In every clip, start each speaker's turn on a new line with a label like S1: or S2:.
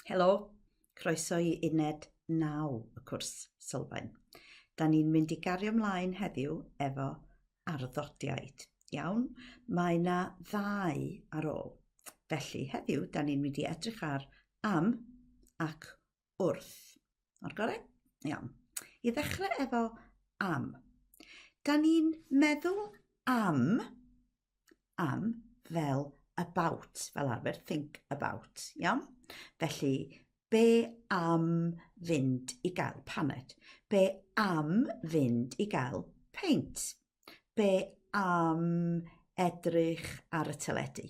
S1: Helo, croeso i uned 9 y cwrs sylfaen. Da ni'n mynd i gario mlaen heddiw efo arddodiaid. Iawn, mae yna ddau ar ôl. Felly, heddiw, da ni'n mynd i edrych ar am ac wrth. O'r gorau? Iawn. I ddechrau efo am. Da ni'n meddwl am, am fel about, fel arfer, think about, iawn? Felly, be am fynd i gael paned? Be am fynd i gael peint? Be am edrych ar y teledu?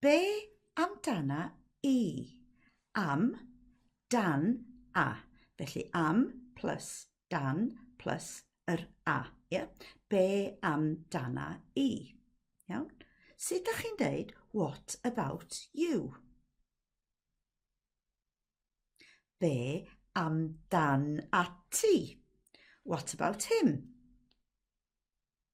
S1: Be amdana i? Am, dan, a. Felly am plus dan plus yr a. Yeah? Be amdana i? Iawn? Sut da chi'n deud what about you? Be amdan ati? What about him?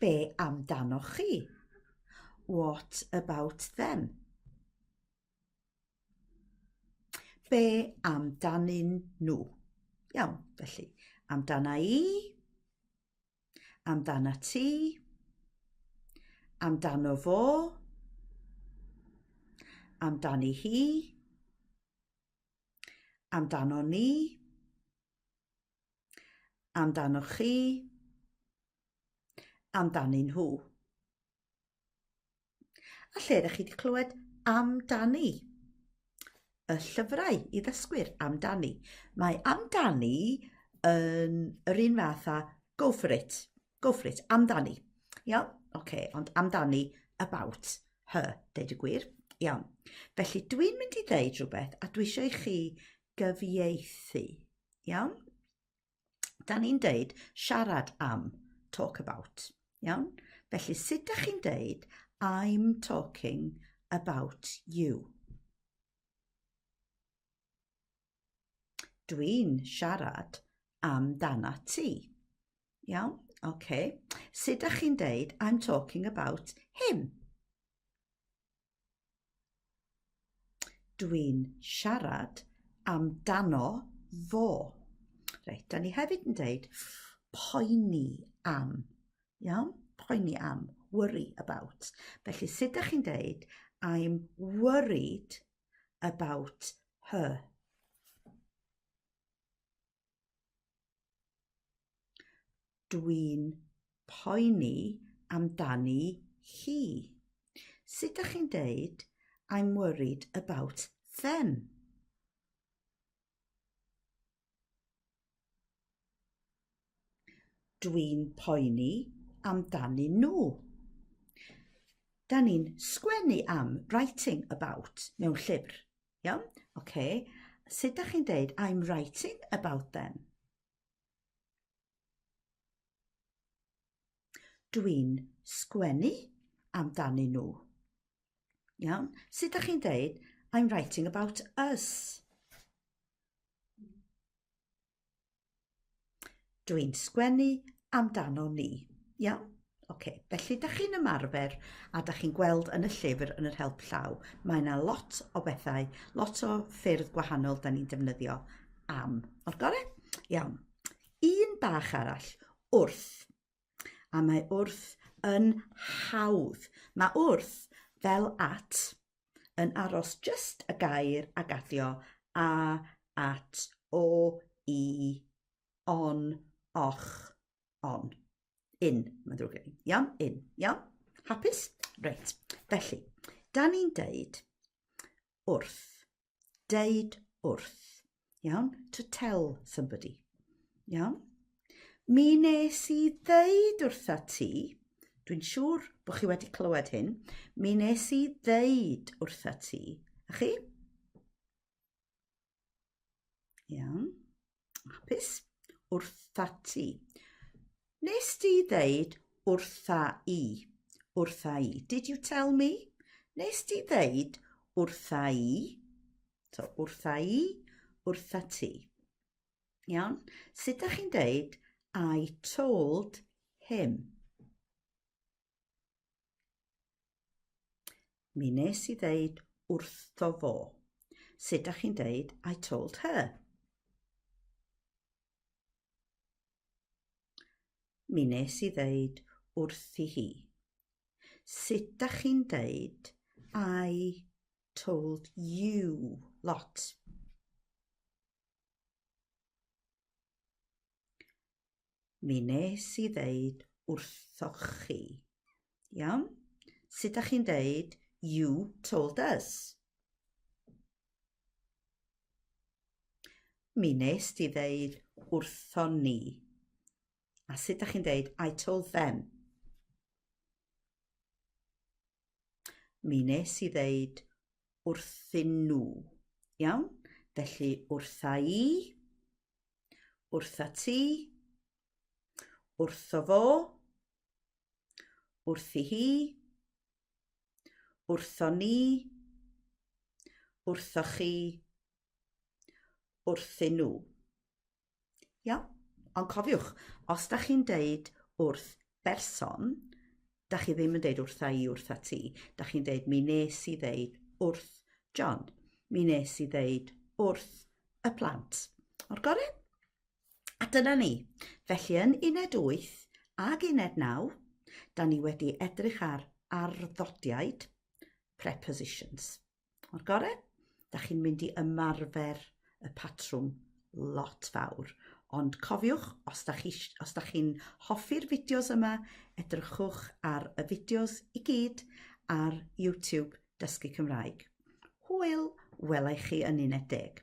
S1: Be amdanoch chi? What about them? Be amdanyn nhw? Iawn, felly, amdana i, amdana ti, amdano fo, amdani hi, amdano ni, Amdanoch chi, amdanyn nhw. A lle ydych chi wedi clywed amdani? Y llyfrau i ddysgwyr amdani. Mae amdani yn yr un fath a go for it, go for it, amdani. Iawn? Oce, okay, ond amdani about her, deud y gwir. Iawn. Felly dwi'n mynd i ddeud rhywbeth a dwi eisiau i chi gyfieithu. Iawn? Da ni'n deud siarad am, talk about. Iawn? Felly, sut da chi'n deud I'm talking about you? Dwi'n siarad am dana ti. Iawn? Oce. Okay. Sut da chi'n deud I'm talking about him? Dwi'n siarad amdano fo. Reit, da ni hefyd yn dweud poeni am. Iawn? Poeni am, worry about. Felly, sut da chi'n dweud I'm worried about her? Dwi'n poeni amdani hi. Sut dach chi'n deud I'm worried about them? Dwi'n poeni amdani nhw. Da ni'n sgwennu am, writing about, mewn llyfr. Iawn? Oce. Sut da chi'n deud I'm writing about them? Dwi'n sgwennu amdanyn nhw. Iawn? Sut da chi'n deud I'm writing about us? Dw i'n sgwennu amdano ni. Iawn? Oce, felly da chi'n ymarfer a da chi'n gweld yn y llyfr yn yr help llaw, mae yna lot o bethau, lot o ffyrdd gwahanol da ni'n defnyddio am. O'r gore? Iawn. Un bach arall, wrth. A mae wrth yn hawdd. Mae wrth fel at, yn aros jyst y gair a gaddio, a, at, o, i, on, och, on. In, mae'n ddrwg gen i. Iawn, in. Iawn? Hapus? Reit. Felly, da ni'n deud wrth Deud wrth. Iawn? To tell somebody. Iawn? Mi nes i ddeud wrtha ti, dwi'n siŵr bod chi wedi clywed hyn, mi nes i ddeud wrtha ti, a chi? Iawn. Hapus? Wrtha ti. Nes di ddeud wrtha i. Wrtha i. Did you tell me? Nes di ddeud wrtha i. So, wrtha i, wrtha ti. Iawn? Sut da chi'n deud I told him? Mi nes i ddeud wrtho fo. Sut da chi'n deud I told her? Mi nes i ddeud wrthi hi. Sut da chi'n deud I told you lot? mi nes i ddeud wrthoch chi. Iawn? Sut da chi'n deud you told us? Mi nes di ddeud wrtho ni. A sut da chi'n deud I told them? Mi nes i ddeud wrthyn nhw. Iawn? Felly wrtha i, Wrtha ti. Wrtho fo. Wrthi hi. Wrtho ni. Wrtho chi. Wrthyn nhw. Iawn? Ond cofiwch, os da chi'n deud wrth berson, da chi ddim yn deud wrtha i, wrtha ti. Da chi'n deud, mi nes i ddeud wrth John. Mi nes i ddeud wrth y plant. O'r gorau? A dyna ni. Felly yn uned 8 ag uned 9, da ni wedi edrych ar arddodiaid, prepositions. O'r gore, da chi'n mynd i ymarfer y patrwm lot fawr. Ond cofiwch, os da chi'n chi, chi hoffi'r fideos yma, edrychwch ar y fideos i gyd ar YouTube Dysgu Cymraeg. Hwyl, welai chi yn uned deg.